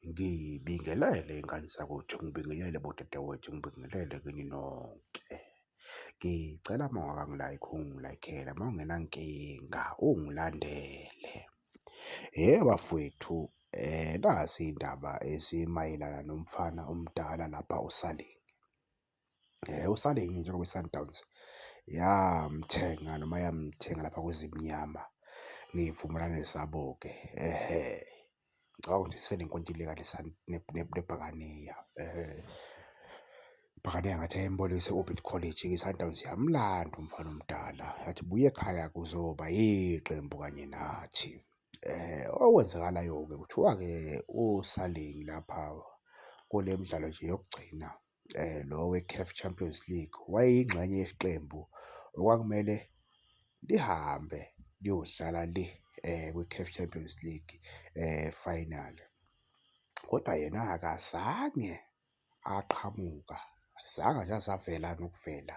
Ngibingelele ngani zakwethu, ngibingelele bodadewethu, ngibingelele kini nonke. Ngicela uma ungakangi-like ungi-like-ele uma ungenankinga ungilandele. Hhe bafwethu nazi iy'ndaba ezimayelana nomfana omdala lapha osalinge. Usale yini njengoba iSundowns yamthenga noma yamthenga lapha kweZimnyama ngey'vumelwane zabo-ke? Ngicabanga ukuthi isenenkontileka neBhakaniya. IBhakaniya ngathi yayimbolekise u-Orbit College, iSundowns yamlanda umfana omdala yathi buya ekhaya kuzoba yiqembu kanye nathi. Okwenzakalayo-ke kuthiwa-ke osaling lapha kule midlalo nje yokugcina lo we-CAF Champions League wayeyingxenye yeqembu okwakumele lihambe liyodlala le kwi-CAF Champions League final, kodwa yena akazange. aqhamuka azange nje aze avela nokuvela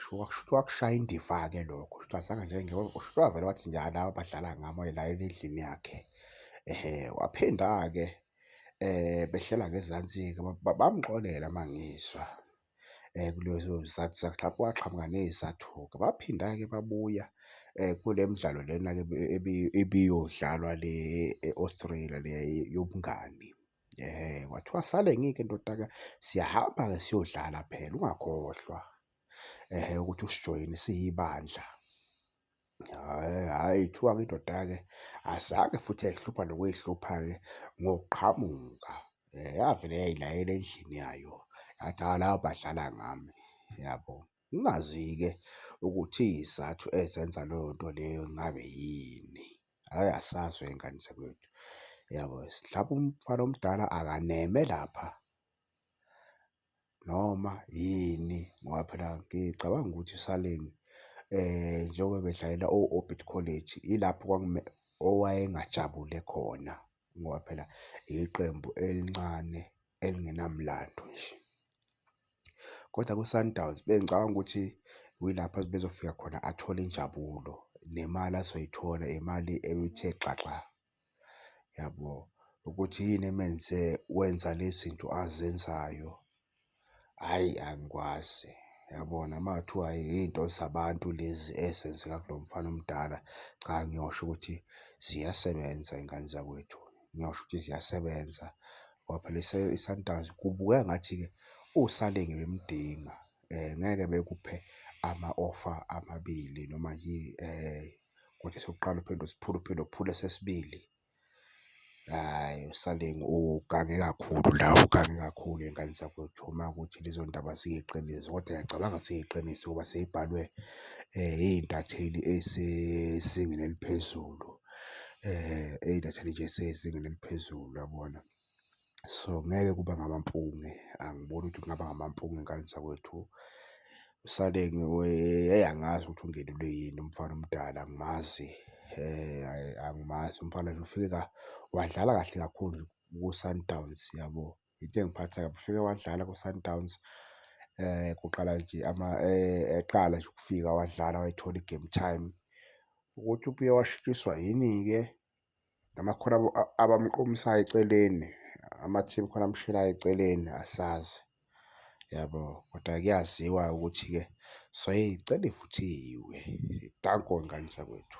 shuthi kushuthi wakushaya indiva-ke lokho shuthi azange nje shuthi wavele wathi nje hhayi laba badlala ngami wayelalela endlini yakhe. Waphinda-ke behlela ngezansi-ke bamxolela uma ngizwa kulezo zizathu zakhe hlampe waqhamuka ney'zathu-ke. Baphinda-ke babuya kule midlalo lena-ke ebiyodlalwa le e-Australia le yobungani. Eh, kwathiwa sale ngike ndodaka siyahamba-ke siyodlala phela ungakhohlwa ehe ukuthi usijoyine siyibandla. Hhayi kuthiwa-ke indoda-ke azange futhi yayihlupha nokuyihlupha-ke ngokuqhamuka. Yavele yayilayela endlini yayo yathi, hhayi laba badlala ngami, yabo. Ngingazi-ke ukuthi iy'zathu ezenza leyo nto leyo ngabe yini, hhayi asazi wey'ngane zakwethu. Yabo, mhlawumpe umfana omdala akaneme lapha noma yini ngoba phela ngicabanga ukuthi uSaleng njengoba bedlalela o-Orbit College ilapho owayengajabule khona ngoba phela iqembu elincane. elingenamlando nje. Kodwa kwiSundowns bengicabanga ukuthi yilapho bezofika khona athole injabulo nemali azoyithola imali ebithe xaxa, yabo? Ukuthi yini emenze wenza le zinto azenzayo, hhayi angikwazi, yabona? Uma kuthiwa yiy'nto zabantu lezi ezenzeka kulo mfana omdala, cha ngiyosho ukuthi ziyasebenza iy'ngane zakwethu. ngingasho ukuthi ziyasebenza ngoba phela iSundowns kubukeka ngathi-ke usale ngebemdinga ngeke bekuphe ama-ofa amabili noma kodwa esokuqala uphinde usiphule uphinde uphule esesibili. Hhayi usale ugange kakhulu la ugange kakhulu ngey'ngane zakwethu uma kuwukuthi lezo ndaba ziyiqiniso kodwa ngiyacabanga ukuthi ziyiqiniso ngoba seyibhalwe iy'ntatheli ezisezingeni eliphezulu. eyiletha nje esezingeni eliphezulu uyabona. So, ngeke kube ngamampunge angiboni ukuthi kungaba ngamampunge ezinganeni zakwethu. Usale hheyi angazi ukuthi ungenelwe yini umfana omdala angimazi angimazi umfana nje ufike wadlala kahle kakhulu kuSundowns yabo. Into engiphatha kabi ufike wadlala kwiSundowns kuqala nje eqala nje ukufika wadlala wayithola i-game time. Ukuthi ubuye washitshiswa yini-ke noma khona abamqomisayo eceleni, amathimu khona amshilayo eceleni asazi yabo. Kodwa kuyaziwa ukuthi-ke soyicela ivuthiwe. Danko ngane zakwethu.